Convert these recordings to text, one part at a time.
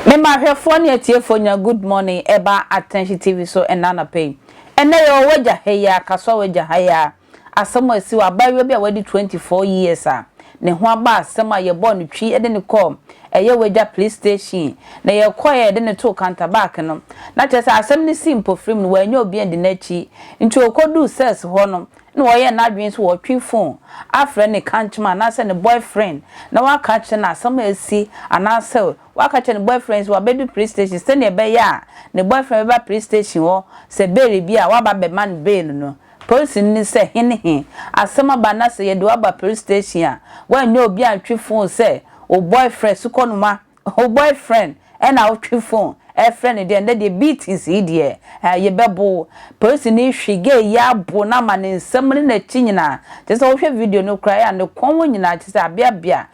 Mema ahwɛfoɔ ne atiefoɔ nya good morning ɛba Attention TV so ɛna anɔpa yi. Ɛnɛ yɛwɔ wagya, heyaa, kasoa wagya, hayaa. Asɛm a esi wɔ abaayewa bi a wadi 24 years a ne ho aba asɛm a yɛbɔɔ no twi de no kɔɔ ɛyɛ w'agya police station na yɛkɔe a yɛde no too counterback no na kyerɛ sɛ asɛm no sii mpofirim no wannya obi andi n'akyi nti okoduu cells hɔ no na ɔyɛɛ n'adwene sɛ ɔtwe phone afrɛ ne kankyema anaasɛ ne boyfriend na waka akyerɛ no asɛm a asi anaasɛ waka akyerɛ ne boyfriend sɛ wabedu police station sɛnea ɛbɛyɛ a ne boyfriend bɛba police station hɔ sɛ bail bi a waba abɛma no bail no Polisini no sɛ he ne he. Asɛm aba na sɛ yɛde wo aba police station a, woanyɛ obi antwe fon sɛ wo boyfriend, sukɔnoma, wo boyfriend na wotwe fon frɛ no deɛ, nnɛ deɛ beatings yi deɛ eh, yɛbɛbo wo. Polisini yi hwe gay yi abo no ama ne nsam ne n'akyi nyinaa. Kyerɛ sɛ wohwɛ video no koraa a, ne kɔn hɔ nyinaa kyerɛ sɛ abeabea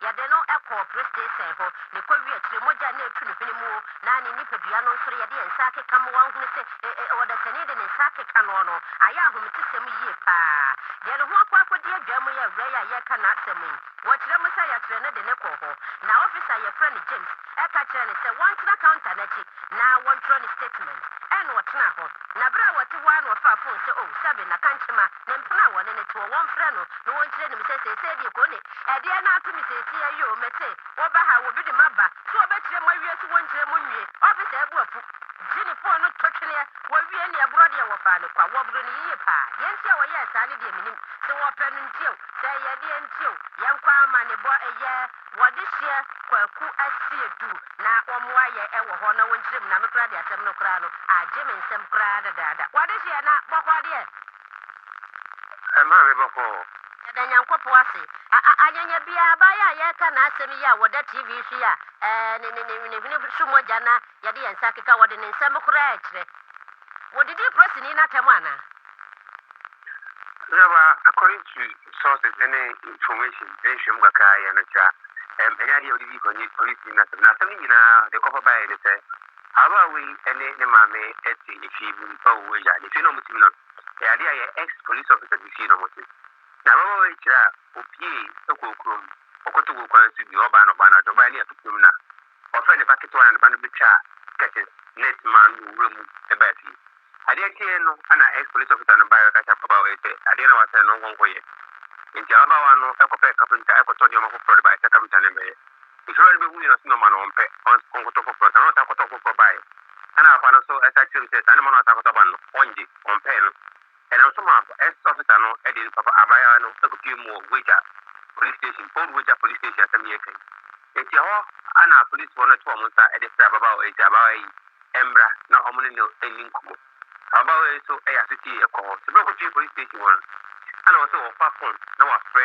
Yɛde no kɔɔ polisiteesen hɔ na ɛkɔwie akyire mogya a na ɛretu ne hwene mu o, na ne nipadua no nso no yɛde yɛn nsa akeka ma wahunu sɛ ɛ ɛ ɔdasani de ne nsa akeka noɔ no. Ayɛ ahomtesɛm yie pa ara. Deɛ ne ho akɔ akɔdi adwaa mu yɛ awura yi a yɛreka n'asɛm yi. Wɔkyerɛ mu sɛ yɛkyerɛ no de no kɔɔ hɔ na officer a yɛfrɛ no James ka kyerɛɛ no sɛ wɔntena counter no akyi na wɔntwerɛ ne statement. Ɛna ɔtenaa hɔ na berɛ a ɔte hɔ ara na ɔfaa phone sɛ oh, Seven, Nakankyema. Na mpena a wɔne no teɔ, wɔmfrɛ no, na wɔnkyerɛ no mu sɛ, Seesei deɛ kɔ ne. Ɛdeɛn na ato me seesei a yo? Mete, wɔba ha, wɔbi de maba, sɛ wɔbɛkyerɛ mo awie, sɛ wɔnkyerɛ mo nwie. Ɔpe saa bu afu. Gye ne pon no to tweneɛ. Wɔwie neɛ borɔ deɛ, wɔfaa no kwa. Wɔboro no yiye paa. Deɛ nti a wɔyɛɛ saa no deɛ mennim. Sɛ wɔpɛ no nti o, sɛ ɛyɛ deɛn nti o, yɛnkɔ amanebɔ ɛyɛ. Wɔde hyeɛ kwaku asie du na wɔn ayɛ wɔ hɔ na wɔn nkyerɛm na me koraa de asɛm no koraa no agye me nsam koraa dadaada. Wɔde hyeɛ na bɔkɔɔ deɛ. Ɛmaa me bɔkɔɔ. Yɛda Nyankopɔn ase. A a anyanya biaa abaa yi a yɛreka n'asɛm yi a wɔda TV so yi a ɛɛ ne ne ne ne hwene so mogya na yɛde yɛn nsa keka wɔde ne nsam koraa kyerɛ. Wɔdidi polisini no atɛm anaa? Ɔsraba, according to sources ne information ne nhwehwɛmu kakra a yɛyɛ no kyerɛ a, ɛnyɛ adeɛ a ɔde dii kan ɔne Ɔne Tim no asɛm. Na asɛm no nyinaa deɛ ɔkɔfa baeɛ ne sɛ, ababaawa yi ne ne maame te efie bi mu wɔ wɔn agya. Na efie no a wɔte mu no, ɛyɛ adeɛ a ɛyɛ ex police officer bi fie na wɔte. Na ababaawa yi kyerɛ a, ɔpuee kɔɔ kurom, ɔkɔtoo wɔ kwan so bi, ɔbaa no ɔbaa no adwo, ɔbaeɛ no yɛ afe fam na. Ɔfrɛɛ ne ba ketewa na ne ba no betwaa curtain, net, maa no wɔ wura mu de baa fie. Adeɛ kyeeɛ no na ex police officer no baeɛ bɛka kyerɛɛ ababaawa yi sɛ adeɛ na wasɛe no ɔnkɔ nkɔyɛ. Enti ababaawa no kɔpɛɛ carpenter kɔtɔɔ nneɛma foforɔ de baeɛ sɛ carpenter no mmɛyɛ. Efiewa no behuiɛ no ɔse nɔma no ɔmpɛ, ɔnkɔtɔ foforɔ. Saa na ɔsan kɔtɔɔ foforɔ baeɛ. Ɛna papa no nso san kyerɛɛ mu sɛ saa nɔma no a ɔsan akɔtɔ aba no no ɔngye, ɔmpɛɛ no. Ɛnam so maa First Officer no de ne papa abaayewa no kɔpue mu wɔ Weija Police Station, Old Weija Police Station asɛm yi aka yi. Enti ɛhɔ ara na apolisifoɔ no too wɔn nsa de frɛɛ ababaawa yi sɛ abaawa yi mmra na wɔn ne no nni nkɔmmɔ. Ababaawa yi nso yɛ asotie kɔɔ hɔ. Sɛ bere a ɔkɔpue Police Station hɔ no, ɛna ɔsɛ ɔfa phone na wafrɛ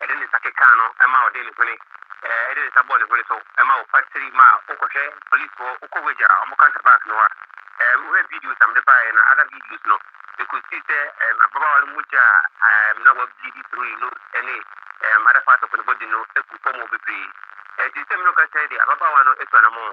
Ɛde ne nsa kekaa no ma ɔde ne hwene ɛde ne nsa bɔɔ ne hwene so ma ɔfa siri ma wokɔhwɛ police foɔ wokɔ wage a ɔmo counter back no a ɛɛ wohwɛ videos a mede baeɛ na other videos no mekɔsii sɛ ɛɛ ababaawa no mogya a ɛɛ na wa bleed through ne nose ɛne ɛɛ other parts of ne body no gu fɔm hɔ bebree ɛɛ te sɛ mene wo kasa yi deɛ ababaawa no atu anamɔn.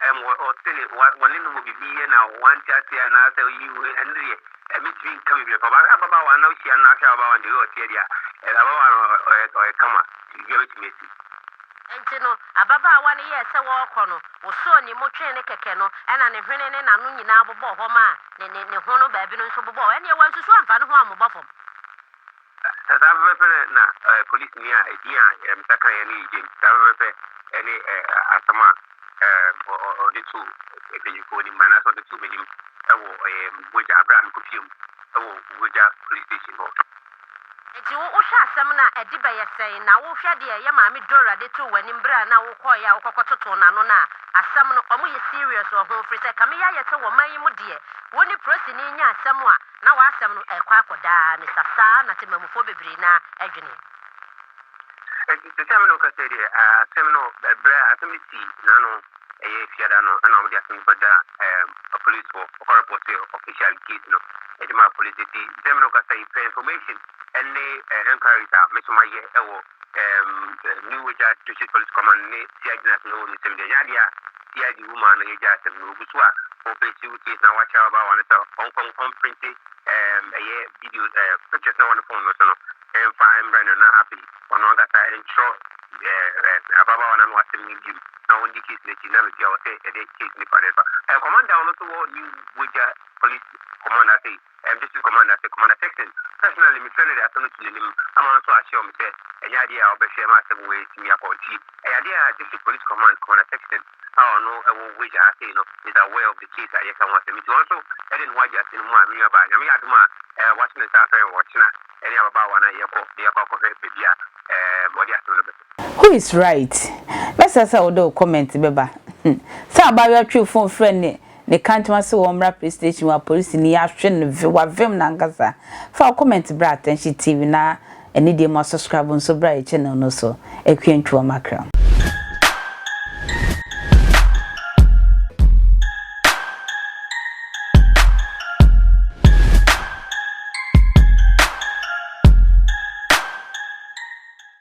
Ɛm, wɔ, ɔte ne, wa, wɔne no wɔ biribi yɛ na wante aseɛ anaasɛ ɔyi wo, ɛno deɛ, ɛmɛtumi nka biribi. Papa, sɛ ababaawa no na wohyia no na ahwɛ ababaawa no deɛ, wei ɔteɛ deɛ a, ɛɛ, ababaawa no, ɔ, ɔyɛ, ɔyɛ kama, nti biribiara bɛtumi asi. Enti no, ababaawa no yɛɛ sɛ wɔɔkɔ no, wosɔɔ ne mu twee ne kɛkɛ no, ɛna ne hwene ne n'ano nyinaa bobɔɔ hɔ maa ne, ne, ne ho no baabi no nso bobɔɔ hɔ. Ɛnneɛ wansusu amfa ne ho ammobɔ fam. Saa pɛpɛɛpɛ no na polisini a edin a Yɛremsa kaeɛ no yɛ James, saa pɛpɛɛpɛ ne asɛm a ɔde too mpanyinfoɔ anim anaasɛ ɔde too m'anim wɔ Mogya berɛ a mekɔ fie mu wɔ Mogya Police Station hɔ. Enti wo wohwɛ asɛm no a, ɛde bɛyɛ sɛn? Na wohwɛ deɛ yɛ maame Dora de too w'anim berɛ a na wokɔeɛ a wokɔkɔ totoo n'ano no a, asɛm no, wɔyɛ serious wɔ ho, firi sɛ kame yɛ ayɛ sɛ wɔ man yi mu deɛ, wo ne porisini nya asɛm a, Na w'asɛm no ɛkɔ akɔ daa ne sa saa na temammufoɔ bebree no ara ɛdwene. Enti sesɛ me na woka sɛ deɛ asɛm no ɛberɛ a asɛm no sii n'ano ɛyɛ fiada no ɛna wɔde asɛm no kɔ da apolisifoɔ ɔkɔ repɔte officially case no ɛde ma apolisi enti sesɛ me na woka sɛ pɛ information ɛne enquiries a me nso mayɛ ɛwɔ ɛɛm, New Wagya District Police Command ne CID no ase na wɔn nsam deɛ, ɛnyɛ adeɛ a CID wo maa no yɛ gyaa asɛm no, wɔgu so a wɔpɛsi wo case na wɔakyɛ ɔbaa wɔn sɛ ɔnkɔ ɔmprinti ɛɛm, ɛyɛ video ɛɛ pictures na wɔn phone no so no ɛmfa mbrɛ no na afei ɔno ankasa ɛntwerɛ ɛɛ ɛɛ ababaawa no ano asɛm no bio na wɔn di case no akyi na baabi a wɔsɛ ɛde case nipa no ɛfa ɛɛ, Command down no so wɔ New Wagya Police Command ase yi. District Commander ase, Commander Texon, personally mefrɛɛ no de asɛm no too n'anim ama ɔno nso assure me sɛ ɛnyɛ adeɛ a ɔbɛhwɛ ma asɛm wei atumi akɔ. Nti ɛyɛ adeɛ a District Police Command, Commander Texon a ɔno wɔ Wage ha sei no is aware of the case a yɛreka ho asɛm yi. Nti ɔno nso de ne ho agye asɛm no mu a me nuabaa, Nyame yɛ adom a wato ne nsa afrɛ me ɔkyena ɛne ababaawa no a yɛkɔ de akɔ akɔhwɛ baabi a ɔde asɛm no bɛto. Who is right? Mɛsrɛ sɛ wode wo comment bɛba. Sɛ abaayewa twee fon frɛɛ ne Ne kantma se wɔ mmra police station wa police ni ahwe no ve wa vem no ankasa fa wo comment bra attention tv na ɛne deɛ mo asubscribe nso bra yɛ channel no so akua ntwi wɔ makram.